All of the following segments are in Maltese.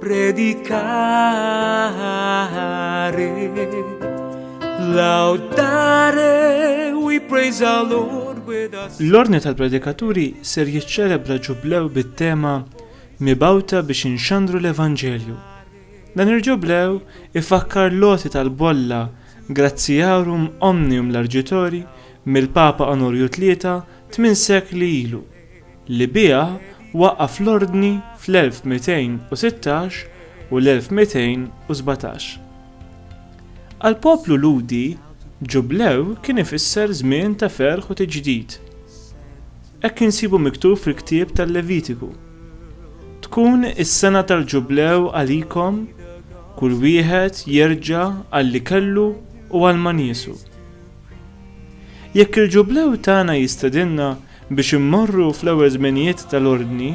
Predicare, laudare, we praise our Lord with us. L-ordni tal-predikaturi ser jiċċelebra ġublew bit-tema mibawta biex inxandru l-Evanġelju. Dan il-ġublew ifakkar loti tal-bolla Graziarum Omnium Largitori mill-Papa Onorju Tlieta tmien sekli ilu. li biha waqqaf l-Ordni fl-1216 u l-1217. Għall-poplu Lhudi, ġublew kien ifisser żmien ta' ferħ u tiġdid. Hekk insibu miktub fil-ktieb tal-Levitiku, Tkun is-sena tal-ġublew għalikom, kull wieħed jerġa' għal li kellu u għal ma niesu. Jekk il-ġublew tagħna jistedinna Biex immorru fl-ewwel żminijiet tal-Ordni,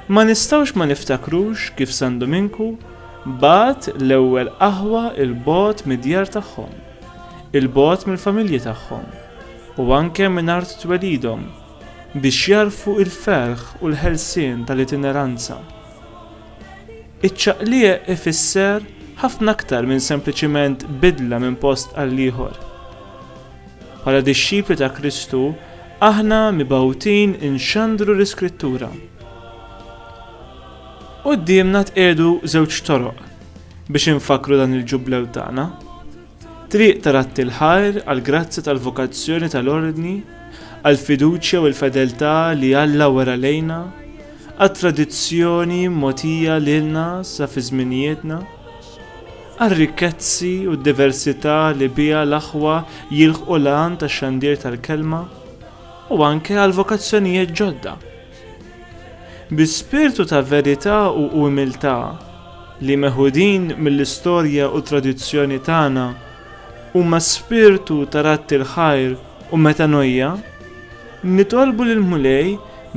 ma nistgħux ma niftakrux kif San Duminku bagħat l-ewwel aħwa 'l bogħod mid-djar tagħhom, 'il bogħod mill-familji tagħhom, u anke minn art twelidhom, biex jagħrfu l-ferħ u l-ħelsien tal-itineranza. Iċ-ċaqliq ifisser ħafna aktar minn sempliċiment bidla minn post għall-ieħor. Bħala dixxipli ta' Kristu, aħna mibgħutin inxandru l-Iskrittura. Quddiemna tqiegħdu żewġ toroq biex infakkru dan il-Ġublew tagħna. Triq ta' ratti l-ħajr għall-grazzja tal-vokazzjoni tal-ordni, għall-fiduċja u l-fedeltà li Alla wera lejna, għat-tradizzjoni mogħtija lilna sa fi żminijietna, għar-rikkezzi u d-diversità li biha l-aħwa jilħqu l-għan tax-xandir tal-Kelma u anke għal vokazzjonijiet ġodda. Bi spirtu ta' verità u umiltà li meħudin mill-istorja u t-tradizzjoni tagħna huma spirtu ta' radd il-ħajr u metanoia, nitolbu lill-Mulej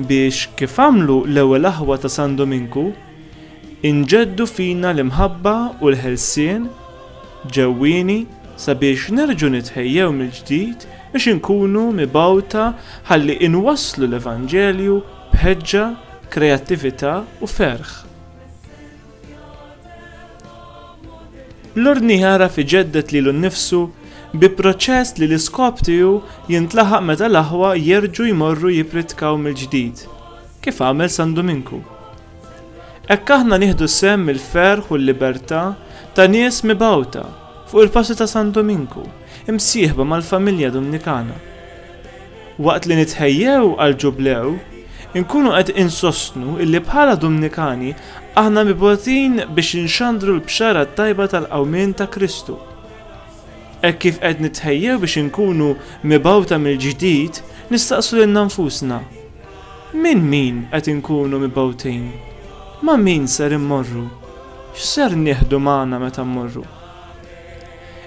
biex kif għamlu l-ewwel aħwa ta' San Duminku, Inġeddu fina l-imħabba u l-ħelsien ġewwieni sabiex nerġgħu nitħejjew mill-ġdid biex inkunu mibgħuta ħalli inwasslu l-Evanġelju b'ħeġġa, kreattività u ferħ. L-Ordni jagħraf iġedded lilu nnifsu bi proċess li l-iskop tiegħu jintlaħaq meta l-aħwa jerġgħu jmorru jippritkaw mill-ġdid. kif għamel San Duminku. Hekk aħna nieħdu sehem mill-ferħ u l-libertà ta' nies mibgħuta fuq il-passi ta' San Duminku, imsieħba mal-familja Dumnikana. Waqt li nitħejjew għal ġublew, inkunu qed insostnu illi bħala Dumnikani aħna mibotin biex inxandru l-bxara tajba tal-qawmien ta' Kristu. Hekk kif qed nitħejjew biex inkunu mibawta mill-ġdid, nistaqsu lil nfusna. Minn min qed inkunu mibgħutin? Ma' min ser immorru? X'ser nieħdu magħna meta mmorru?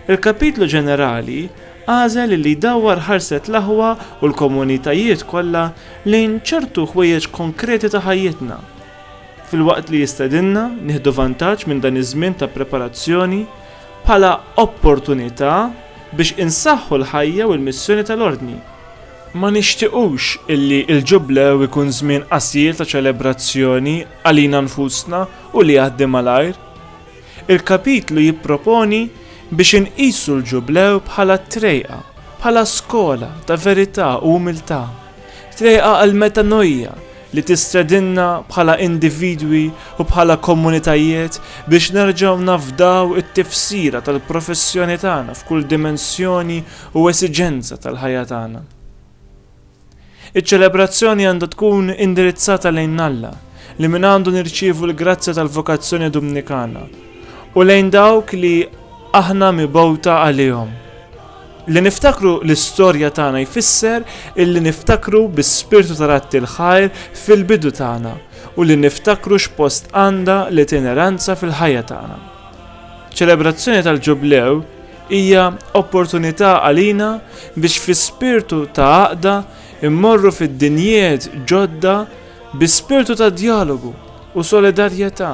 Il-Kapitlu Ġenerali għażel li jdawwar ħarset l-aħwa u l-komunitajiet kollha lejn ċertu ħwejjeġ konkreti ta' ħajjitna, filwaqt li jistedinna nieħdu vantaġġ minn dan iż-żmien ta' preparazzjoni bħala opportunità biex insaħħu l-ħajja u l-missjoni tal-Ordni. Ma nixtiequx illi l-Ġublew ikun żmien qasir ta' ċelebrazzjoni għalina nfusna u li jgħaddi malajr. Il-kapitlu jipproponi biex inqisu l-Ġublew bħala trejqa, bħala skola ta' verità u umiltà, trejqa għall-metanoia li tistedinna bħala individwi u bħala komunitajiet biex nerġgħu nafdaw it-tifsira tal-professjoni tagħna f'kull dimensjoni u esiġenza tal-ħajja tagħna. Iċ-ċelebrazzjoni għandha tkun indirizzata lejn Alla, li mingħandu nirċievu l-grazzja tal-vokazzjoni Dumnikana, u lejn dawk li aħna mibgħuta għalihom. Li niftakru l-istorja tagħna jfisser illi niftakru bis-spirtu tal-atti l-ħajr fil-bidu tagħna u li niftakru x'post għandha l-itineranza fil-ħajja tagħna. Ċelebrazzjoni tal-Ġublew Hija opportunità għalina biex fi spirtu ta' għaqda immorru fid-dinjiet ġodda bi spirtu ta' djalogu u solidarjetà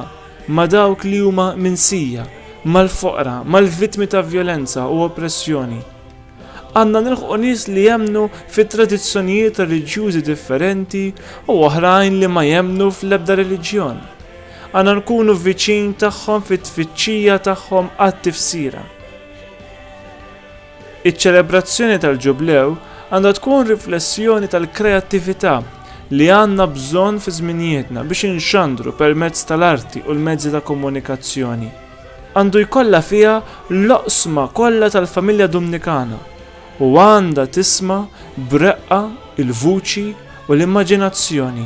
ma' dawk li huma minsija, mal-foqra, mal-vittmi ta' vjolenza u oppressjoni. Għandna nilħqu nies li jemmnu fi tradizzjonijiet reliġjużi differenti u oħrajn li ma jemmnu fl-ebda reliġjon. Għandna nkunu viċin tagħhom fit-tfittxija tagħhom għat-tifsira. Iċ-ċelebrazzjoni tal-Ġublew għandha tkun riflessjoni tal-kreattività li għandna bżonn fi żminijietna biex inxandru permezz tal-arti u l-mezzi ta' komunikazzjoni. Għandu jkollha fiha l-oqsma kollha tal-familja Dumnikana u għandha tisma' b'reqqa il-vuċi u l-immaġinazzjoni